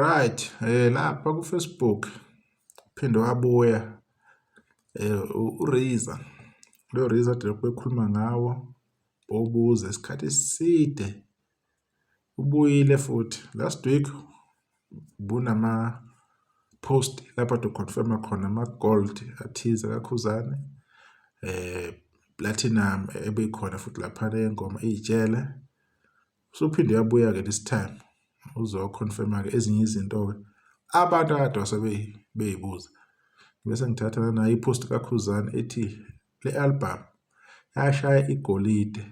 Right, eh lapha ku Facebook phinde wabuya eh uRiza. Lo Riza delokhu ekhuluma ngawo obuze isikhathi eside ubuyile futhi last week bunama post lapho to confirm khona ama gold athize kakhuzane eh platinum ebekhona futhi lapha le ngoma ijele usuphinde yabuya ke this time uzo confirm ke ezinye izinto ke abantu akade wasebeyibuza bese ngithatha nayo ipost kakhuzane ethi Le album yashaya igolide.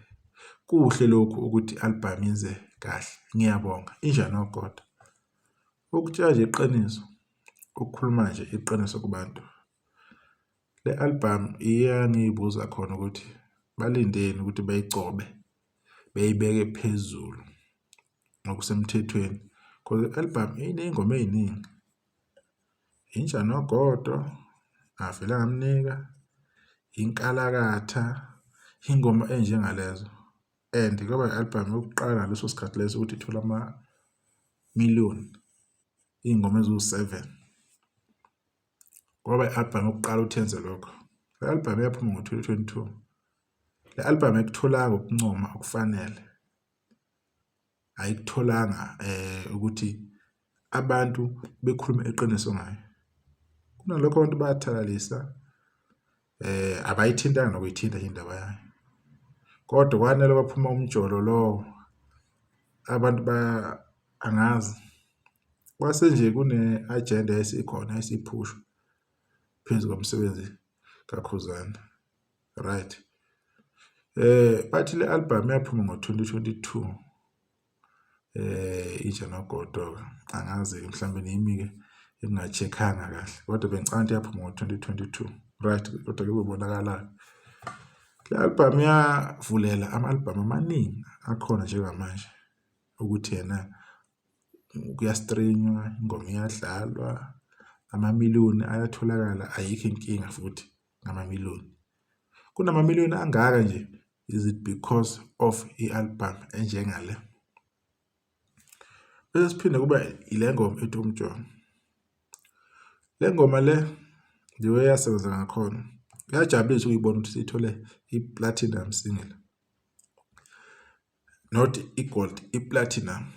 Kuhle lokhu ukuthi album yenze kahle. Ngiyabonga. Injani ogoda? Ukutshela nje iqiniso, ukukhuluma nje iqiniso kubantu. Le album iyangibuza khona ukuthi balindeni ukuthi bayigcobe beyibeke phezulu ngokusemthethweni because i-album iney'ngoma ey'ningi. Inja nogodo, ngavele ngamnika, inkalakatha, iy'ngoma ey'njengalezo and kwaba i-album yokuqala ngaleso sikhathi leso ukuthi ithole ama-million, iy'ngoma eziwu-seven. Kwaba i-album yokuqala ukuthi yenze lokho. Le album yaphuma ngo-twenty twenty-two. Le album ayikutholanga ukuncoma okufanele ayikutholanga ukuthi abantu bekhulume iqiniso ngayo. Kunalokho abantu bayathalalisa abayithintanga nokuyithinta indaba yayo kodwa kwanele kwaphuma umjolo lowo abantu ba angazi kwase nje kune-ajenda esikhona esiphushwa phezu komsebenzi kaKhuzani. Right. Eh bathi le album yaphuma ngo-2022. Eh itshe nogodo angazi mhlambe nimi ke engingacheckanga kahle kodwa bengicanda yaphuma ngo-2022. Right kodwa ke kubonakala le album yavulela ama-album amaningi akhona njengamanje ukuthi yena kuyastrenywa ingoma iyadlalwa amamiliyoni ayatholakala ayikho inkinga futhi ngamamiliyoni. Kunamamiliyoni angaka nje, is it because of i-album enjengale? Bese siphinde kuba ile ngoma ethi umjolo. Le ngoma le ngiyo eyasebenza ngakhona. Kuyajabulisa ukuyibona ukuthi sithole i-platinum single. Not i-gold, i-platinum.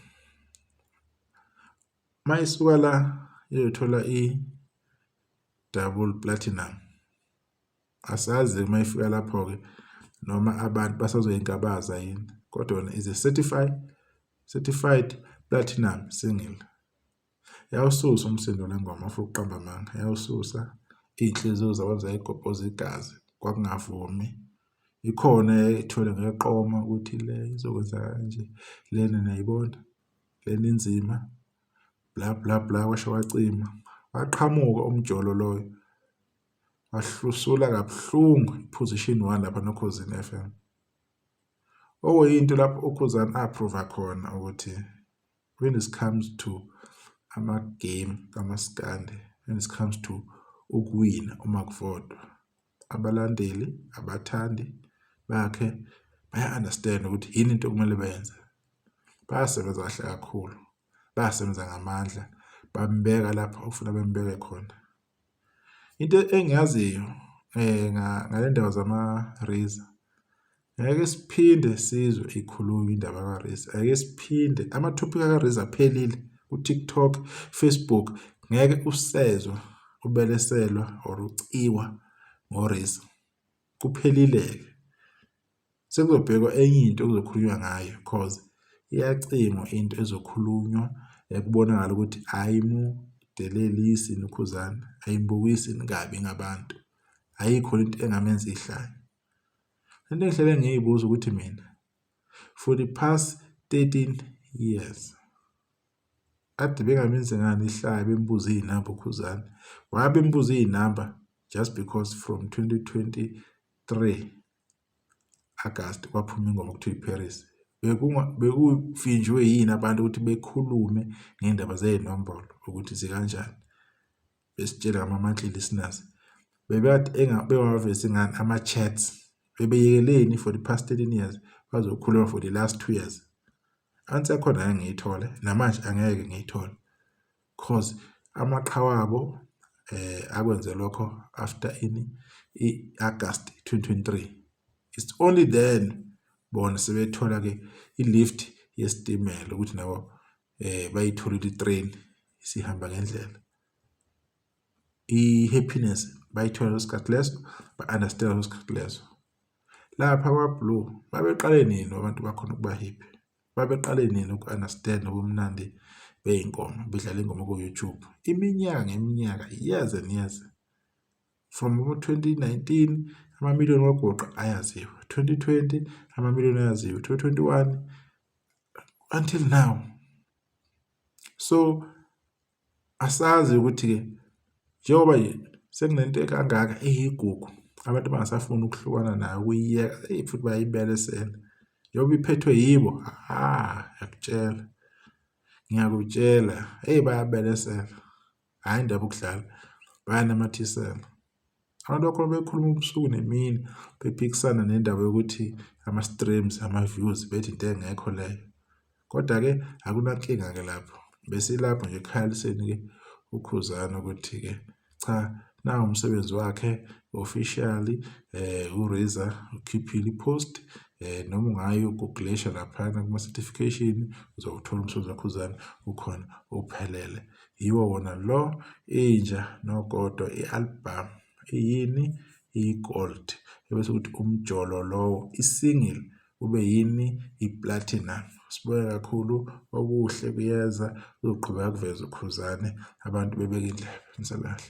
Uma isuka la iyothola i-double platinum asazi uma ifika lapho-ke noma abantu basazoyingabaza yini kodwa yona is a certified certified platinum single yawususa umsindo lengoma afu uqamba amanga yawususa iy'nhliziyo zabantu zayigobhoza igazi kwakungavumi ikhona ethole ngeqoma ukuthi le izokwenza kanje lena niyayibona Lena inzima bla bla bla kwasho wacima waqhamuka umjolo loyo wahlusula kabuhlungu iposition 1 lapha nokhozini FM okuyinto lapho ukhuzani approve khona ukuthi when it comes to ama game kamaskande when it comes to ukuwina uma kuvotwa abalandeli abathandi bakhe baya-understand ukuthi yini into okumele bayenze bayasebenza kahle kakhulu bayasebenza ngamandla bambeka lapho ofuna bembeke khona into engiyaziyo um ngale ndaba zama-razor Ngeke siphinde sizwe ikhulunywa indaba kaRiz. Ngeke siphinde amathophika kaRiz aphelile ku-TikTok, Facebook ngeke usezwa ubeleselwa or uciwa ngoRiz. Kuphelile-ke. Sekuzobhekwa enye into okuzokhulunywa ngayo cause iyacingwa into ezokhulunywa ekubonakala ukuthi ayimudelelisi nukhuzana, ayimbukisi kabi ngabantu. Ayikho into engamenza ihlaya. Into engihlele ngiyibuza ukuthi mina for the past 13 years kade bengamenzi ngani ihlaya bembuza iy'namba ukhuzane waya bembuza iy'namba just because from 2023 agasti kwaphuma ingoma kuthiwa iparis bekufinjwe yini abantu ukuthi bekhulume ngey'ndaba zey'nombolo ukuthi zikanjani besitshela ngama-monthly listeners bebekade bengawavezi ngani ama-chats bebeyekeleni for the past 13 years bazokhuluma for the last two years ansi yakhona ngeke ngiyithole namanje angeke ngiyithole cause amaqhawa abo eh akwenze lokho after ini i-August 2023 it's only then bona sebethola ke i-lift yesitimela ukuthi nabo eh bayitholile i-train isihamba ngendlela i-happiness bayithola leso sikhathi leso ba-understand leso sikhathi leso lapha kwablue babeqale nini abantu bakhona ukuba happy babeqale nini uku-understand ubumnandi bey'ngoma bedlala ingoma ku-youtube iminyaka ngeminyaka years and years from abo-2019 amamiliyoni wagoqa ayaziwa 2020 amamiliyoni ayaziwa 2021 until now So asazi ukuthi-ke njengoba nje sekunento ekangaka eyigugu abantu bangasafuni ukuhlukana nayo ukuyiyeka eyi futhi bayayibelesela njengoba iphethwe yibo ha ngiyakutshela ngiyakutshela eyi bayabelesela. hhayi indaba ukudlala bayanamathisela abantu bakhona bekhuluma ubusuku nemini bephikisana nendaba yokuthi ama-streams ama-views bethi into engekho leyo kodwa-ke akunankinga-ke lapho besilapho nje ekhaliseni-ke ukhuzana ukuthi-ke cha na umsebenzi wakhe officially eh uRiza ukhiphile ipost eh noma ungayi ugooglisha laphana kuma certification uzowuthola umsebenzi wakhuzana ukhona uphelele Yiwo wona lo inja nogodo i-album iyini iyi-gold ebese ukuthi umjolo lowo i-single ube yini i-platinum. Sibuke kakhulu okuhle kuyeza uzoqhubeka kuveza ukhuzane abantu bebeke indlebe nisalahle.